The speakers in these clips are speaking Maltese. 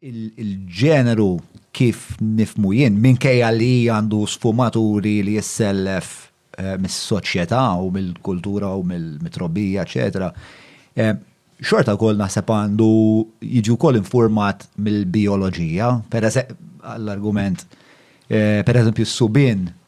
il-ġeneru kif nifhmu jien, minkejja li għandu sfumaturi li jissellef eh, mis-soċjetà u mill-kultura u mill-mitrobija, eċetera, eh, xorta kol naħseb għandu jiġu kol informat mill-bioloġija, per għall-argument, eh, per eżempju, s-subin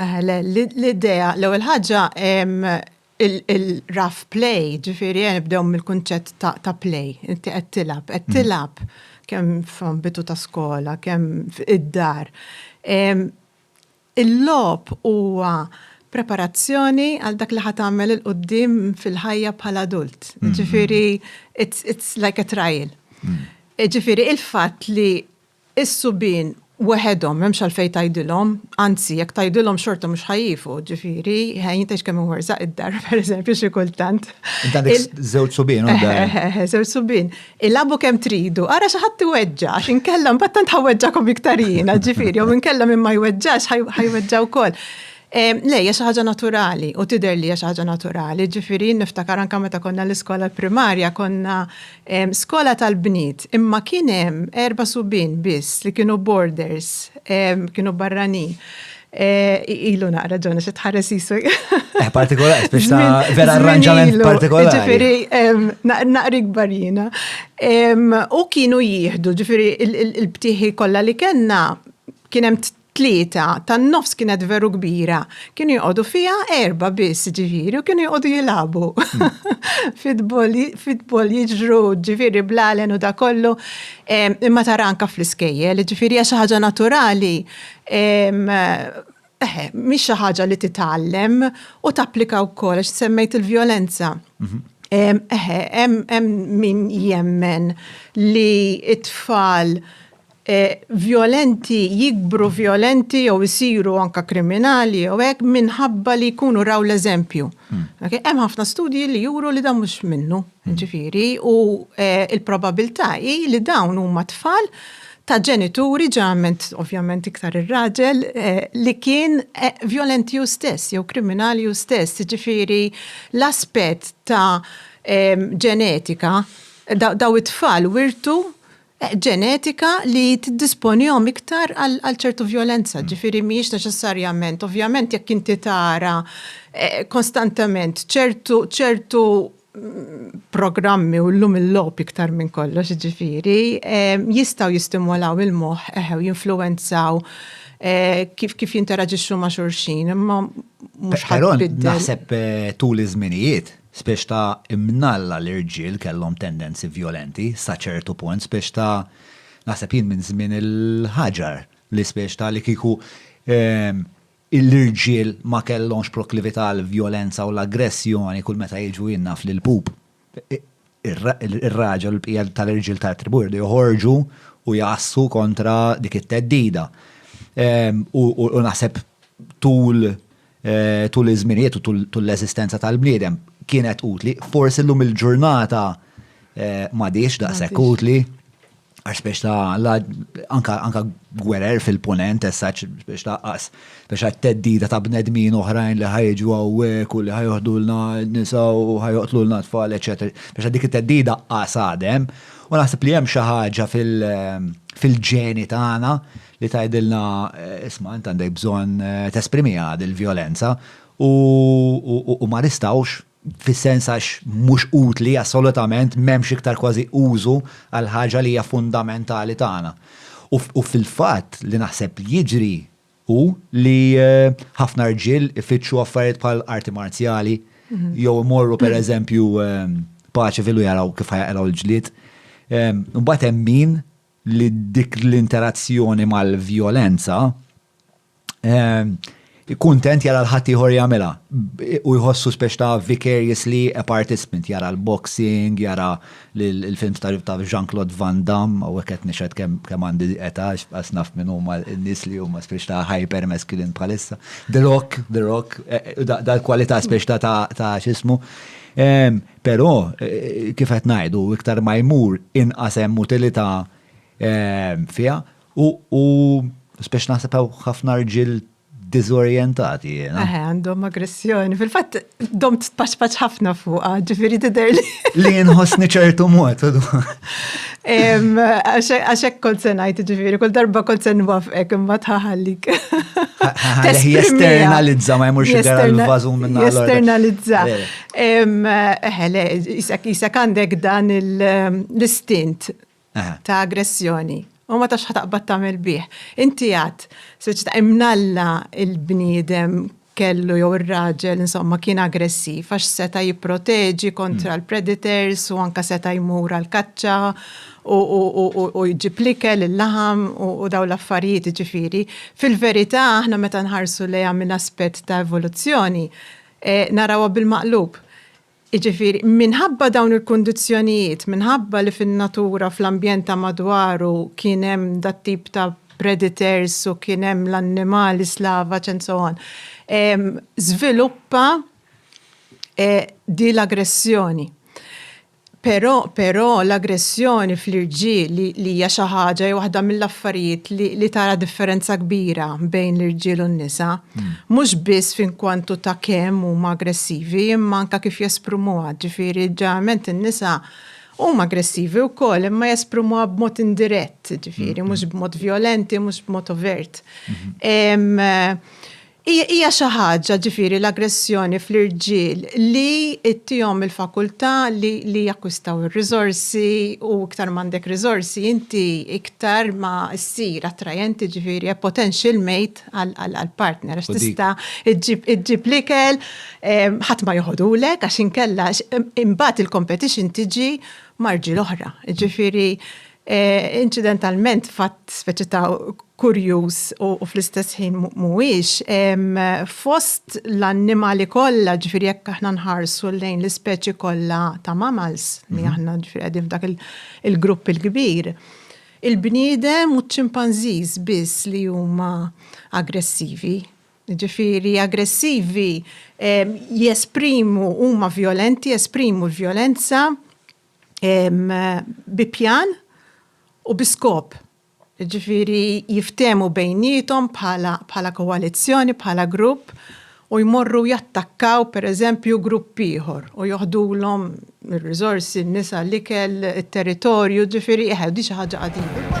Le, l-idea, l-ewwel ħaġa il-rough play, ġifieri nibdew mill-kunċett ta' play, inti qed tilgħab, qed tilgħab kemm f'ambitu ta' skola, kemm id-dar. Il-logħob huwa preparazzjoni għal dak li ħa tagħmel 'il quddiem fil-ħajja bħala adult. Ġifieri it's like a trial. Ġifieri il-fatt li Is-subien weħedhom m'hemmx għalfejn tgħidilhom, anzi jekk tgħidilhom xorta mhux ħa jifu, ġifieri, jien tgħidx kemm imwerżaq id-dar, pereżempju, xi kultant. Int għandek żewġ subien u d-dar. Eħe, eħe, żewġ subien. Ilagħbu kemm tridu, ara xi ħadd iweġġa' għax inkella mbagħad tant ħa weġġagħkom iktar jiena, ġifieri, jew inkella min ma jweġġax ħa jweġġa' wkoll. Le, hija xi ħaġa naturali u tidher li hija xi ħaġa naturali, ġifieri, jien niftakar anke meta konna l-iskola primarja konna, skola tal-bniet, imma kien hemm erba' subien biss li kienu boarders, kienu barranin. Ilu naqra ġonna xi tħares isu. Eh, partikolari, biex ta' vera arranġament partikolari. Ġifieri naqri kbar jiena. U kienu jieħdu, ġifieri il-btieħi kollha li kellna kien hemm tlieta tan-nofs kienet veru kbira, kienu joqogħdu fiha erba' biss ġifieri u kienu joqogħdu jilagħbu. Fitbol jiġru ġifieri blalen u da kollu imma tara anke fl-iskejjel, ġifieri hija xi ħaġa naturali. Eħe, mhix xi ħaġa li titgħallem u tapplika wkoll għax semmejt il-vjolenza. Eħe, hemm min jemmen li t-tfal vjolenti jikbru vjolenti jew isiru anke kriminali jew hekk minħabba li jkunu raw l-eżempju. Hemm ħafna studji li juru li dan mhux minnu, ġifieri, u l-probabilità hi li dawn huma tfal ta' ġenituri, ġeneralment ovvjament iktar ir-raġel, li kien vjolenti hu stess jew kriminali hu stess, jiġifieri l-aspett ta' ġenetika, dawn it-tfal wirtu ġenetika li tiddisponihom iktar għal ċertu vjolenza, ġifieri mhijiex neċessarjament, ovvjament jekk inti tara eh, konstantament ċertu ċertu programmi u l-lum il-lop iktar minn kollox ġifiri, jistaw jistimolaw il-moħ eħew jinfluenzaw eh, kif kif jinteraġixxu ma' xurxin, imma mhux ħadd. Naħseb eh, tul iż-żminijiet Spiss ta' imnalla l-irġiel kellhom tendenzi vjolenti sa ċertu punt, spiss ta' naħseb jien minn żmien il-ħaġar li spiss ta' li kieku l-irġiel ma kellhomx proklività għall-vjolenza u l-aggressjoni kull meta jiġu jien naf li l-pup ir-raġel u l-bqija tal-irġiel tat-tribù jridu joħorġu u jgħassu kontra dik it-theddida. U naħseb tul Eh, tul iż-żminijiet u tul l-eżistenza tal-bniedem kienet utli. Forsi llum il-ġurnata eh, m'għadix daqshekk utli għax biex ta' anka gwerer fil-ponent, essaċ biex ta' qas, biex għat-teddida ta' bnedmin oħrajn li ħajġu għawek u li ħajħdu l-na nisa u ħajqtlu l-na tfal, etc. Biex għaddik it-teddida qas għadem, u naħseb li hemm xi ħaġa fil-ġeni tagħna li tgħidilna, isma' int għandek bżonn tesprimiha dil-vjolenza u ma nistgħux, fis-sens għax mhux utli assolutament, m'hemmx iktar kważi użu għal ħaġa li hija fundamentali tagħna. U fil-fatt li naħseb jiġri hu li ħafna rġiel ifittxu affarijiet bħal arti marzjali jew imorru pereżempju paċifilu jaraw kif ħajaqilgħu l-ġlied. Imbagħad hemm min li dik l-interazzjoni mal-vjolenza kuntent jara l-ħaddieħor jagħmilha u jħossu speċ ta' vicariously a participant jara l-boxing, jara l-films ta' Jean-Claude Van Damme u qed nixed kemm għandi età għax naf minn huma n-nies li huma speċ ta' hyper masculine bħalissa. The Rock, The Rock, e, e, dal-kwalità speċ ta' ta' x'ismu. Però, kif qed ngħidu, iktar ma jmur inqas hemm utilità fiha u spex naħseb hawn ħafna rġiel diżorjentati. Eħe, għandhom aggressjoni. Fil-fatt, dom tpaċpaċ ħafna fuqa, ġifiri tidher li. Li nħossni ċertu mod. Għaxek kol senajt, ġifiri, kol darba kol sen wafqek, imma tħaħallik. Jesternalizza, ma jmurx id l-vazu minna. Jesternalizza. Eħe, le, jisek għandek dan l-istint ta' aggressjoni. U ma tax ħataqbad tagħmel bih. Inti għad, speċi ta' imnalla il-bniedem kellu jew ir-raġel insomma kien aggressiv għax seta' jipproteġi kontra l-predators u anke seta' jmur għall-kaċċa u jġib l-ikel, il-laħam u dawn l-affarijiet jiġifieri. Fil-verità aħna meta nħarsu lejha minn aspett ta' evoluzzjoni, narawha bil-maqlub. Jiġifieri, minħabba dawn il-kundizzjonijiet, minħabba li fin-natura, fl-ambjent ta' madwaru kien hemm dat-tip ta' predators u kien hemm l-annimali slavaġ and so on, żviluppa din l-aggressjoni. Però, però, l-aggressjoni fl-irġiel li, li hija xi ħaġa hija waħda mill-affarijiet li, li tara differenza kbira bejn l-irġiel u n-nisa, mhux biss f'inkwantu ta' kemm huma aggressivi, imma anke kif jesprumuha, ġifieri ġeneralment in-nisa huma aggressivi wkoll imma jesprumuha b'mod indirett, ġifieri mhux b'mod vjolenti, mhux b'mod overt. Hija xi ħaġa, ġifieri l-aggressjoni fl-irġiel, li tihom il-fakultà li jakkwistaw ir-riżorsi u iktar m'għandek riżorsi inti iktar ma ssir attrajenti, ġifieri a potential mate għall-partner għax tista' ġġib l-ikel, ħadd ma joħodulek għax inkella imbagħad il-competition tiġi ma' rġiel oħra. Ġifieri Inċidentalment, fatt speċi ta' kurjuż u fl-istess ħin mhuwiex, fost l-annimali kollha, ġifieri jekk aħna nħarsu lejn l-ispeċi kollha ta' mammals, li aħna ġifieri qegħdin f'dak il-grupp il-kbir, il-bniedem u ċ-ċimpanżiż biss li huma aggressivi. Ġifieri aggressivi jesprimu, huma vjolenti, jesprimu l-vjolenza bi pjan u bi skop. Jiġifieri jiftehmu bejniethom bħala koalizzjoni, bħala grupp u jmorru jattakkaw pereżempju grupp ieħor u joħdulhom ir-riżorsi, n-nisa, l-ikel, it-territorju, jiġifieri eħe, din xi ħaġa qadima.